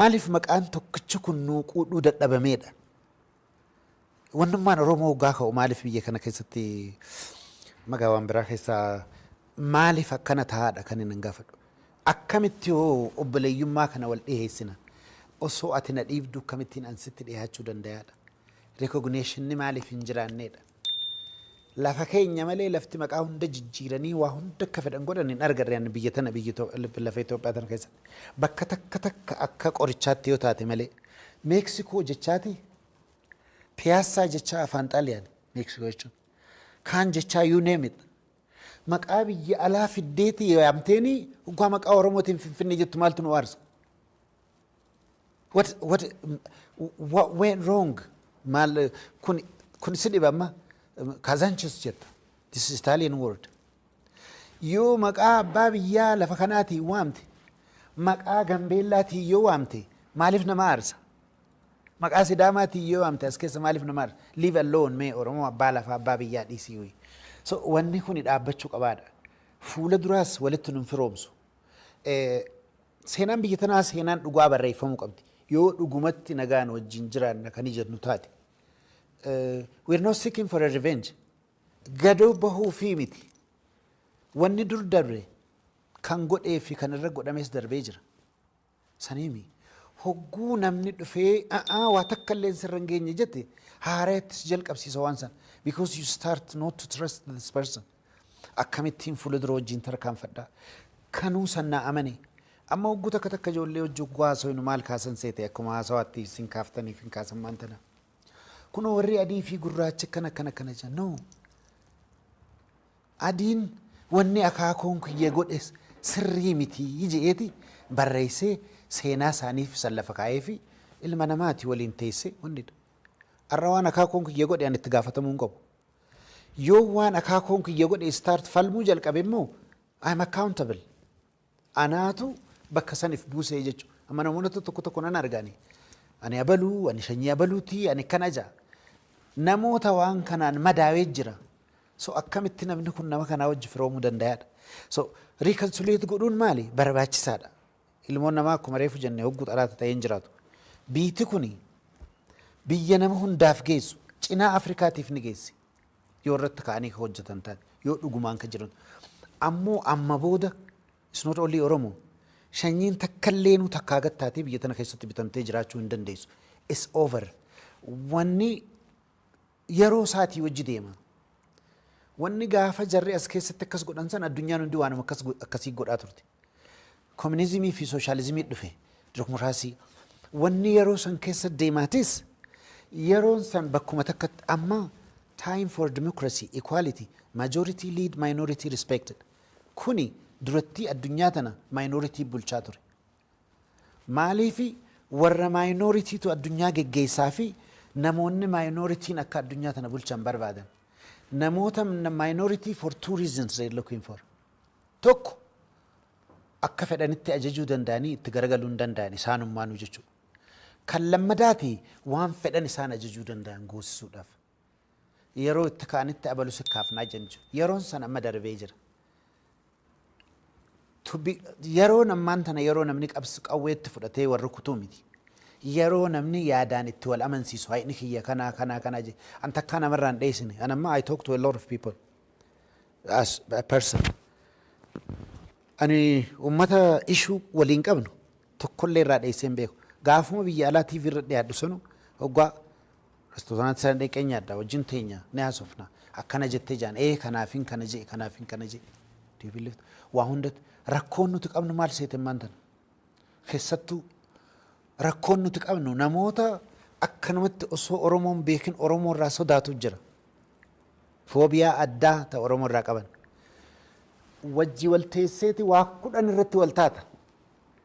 Maaliif maqaan tokkichi kun nuu quudhuu dadhabameedha? Wannummaan Oromoo hoggaa ka'u maaliif biyya kana keessatti magaa waan biraa keessaa maaliif akkana ta'aadha kan inni gaafadhu. Akkamitti hoo obboleeyyummaa kana wal dhiheessina? Osoo ati na dhiibdu akkamittiin an sitti dhihaachuu dandayaadha? Recognition maaliif hin jiraanneedha? Lafa keenya malee lafti maqaa hunda jijjiiranii waa hunda akka fedhan godhan hin argarre ani biyya tana biyya Itoo- lif- lafa Itoophiyaa tana keessatti. Bakka takka takka akka qorichaatti yoo taate malee Meeksikoo jechaati piyaassaa jechaa afaan xaaliyaani Meeksikoo jechuun kaan jechaa you name it. Maqaa biyya alaa fiddeeti yaamteeni hoggaa maqaa Oromootiin finfinnee jettu maaltu nu aarsa? What what what went wrong? Maal kun kun si dhiba amma Kazanchis jetta. This is Italian word. Yoo maqaa abbaa biyyaa lafa kanaatiin waamte maqaa Gambeellaatiin yoo waamte maaliif nama aarsa? Maqaa Sidaamaatiin yoo waamte as keessa maaliif nama aarsa? Leave alone mee Oromoo abbaa lafaa abbaa biyyaa dhiisii wayii. So wanni kuni dhaabbachuu qabaadha. Fuula duraas walitti nun firoomsu. Seenaan biyya tanaa seenaan dhugaa barreeffamuu qabdi. Yoo dhugumatti nagaan wajjin jiraanna kan jennu taate. We are not seeking for a revenge. Gadoo bahuu fi miti. Wanni dur darbe kan godhee fi kan irra godhames darbee jira. Saniimi. Hogguu namni dhufee a'aa waa takka illeen sirra hin geenye jette haarayatti si jalqabsiisa waan san because you start not to trust this person. Akkamittiin fuula dura wajjiin tarkaanfadha. Kanuu san naa amane. Amma hogguu takka takka ijoollee wajji hogguu haasoynu maal kaasan seete akkuma haasawaatti isin kaaftaniif hin kaasan maan tana. Kunoo warri adii fi gurraachi akkana akkana akkana jedha. No. Adiin wanni akaakuun kiyya godhes sirrii miti je'eeti barreeysee seenaa isaaniif san lafa kaayeefi ilma namaati waliin teeysee wanni ar'a waan akaakuun kiyya godhe an itti gaafatamuu hin qabu. Yoon waan akaakuun kiyya godhe start falmuu jalqabe immoo I am accountable. Anaatu bakka san if buusee jechu. Amma namoota tokko tokko nan arga ani. Ani abaluu, ani shanyii abaluuti, ani akkana ja'a. Namoota waan kanaan madaawee jira. So akkamitti namni kun nama kanaa wajji firoomuu dandayaadha. So riikansuleet godhuun maali? Barbaachisaadha. Ilmoon namaa akkuma reefu jenne hogguu xalaata ta'een jiraatu. Biiti kuni biyya nama hundaaf geessu cinaa Afrikaatiif ni geessi. Yoo irratti ka'anii ka hojjetan ta'an, yoo dhugumaan ka jiran. Ammoo amma booda it's not only Oromo. Shanyiin takkalleenu takkaa gad taatee biyya tana keessatti bitamtee jiraachuu hin dandeessu. It's over. Wanni yeroo isaatii wajji deema. Wanni gaafa jarri as keessatti akkas godhan san addunyaan hundi waanuma akkas go- akkasii godhaa turte. Kominizimii fi sooshaalizimii dhufe, dimookiraasii. Wanni yeroo san keessa deemaatis yeroon san bakkuma takkatti amma time for democracy, equality, majority lead minority respected. Kuni durattii addunyaa tana minority bulchaa ture. Maaliifi warra minority tu addunyaa geggeessaa fi namoonni minoritiin akka addunyaa tana bulchan barbaadan. Namoota minority for two reasons they're looking for. 1, Akka fedhanitti ajajuu danda'anii itti garagaluu hin danda'an isaanummaanuu jechuudha. Kan lammadaati waan fedhan isaan ajajuu danda'an goosisuudhaaf yeroo itti ka'anitti abalu si kaafnaa jedhan jechuudha. Yeroon san amma darbee jira. To be- Yeroon ammaan tana yeroo namni qabs- qawweetti fudhatee wal rukutuu miti. Yeroo namni yaadaan itti wal amansiisu hayni kiyya kanaa kanaa kanaa je- an takkaa namarraa hin dheessine. An amma I talk to a lot of people. As a person ani ummata issue walii hin qabnu tokkollee irraa dheessee hin beeku. Gaafuma biyya alaa TV irra dhiyaadhu sanu hoggaa restooraantii sana dheeqee nyaadha wajjin teenya ni haasofna akkana jettee jaan ee kanaafin kana jee kanaafin kana jee. Do you believe that? Waa hundatti rakkoon nuti qabnu maal seete ammaan tana? Keessattuu rakkoon nuti qabnu namoota akkanumatti osoo Oromoo hin beekin Oromoo irraa sodaatu jira. Foobiyaa addaa ta Oromoo irraa qaban. Wajji wal teesseeti waa kudhan irratti wal taata.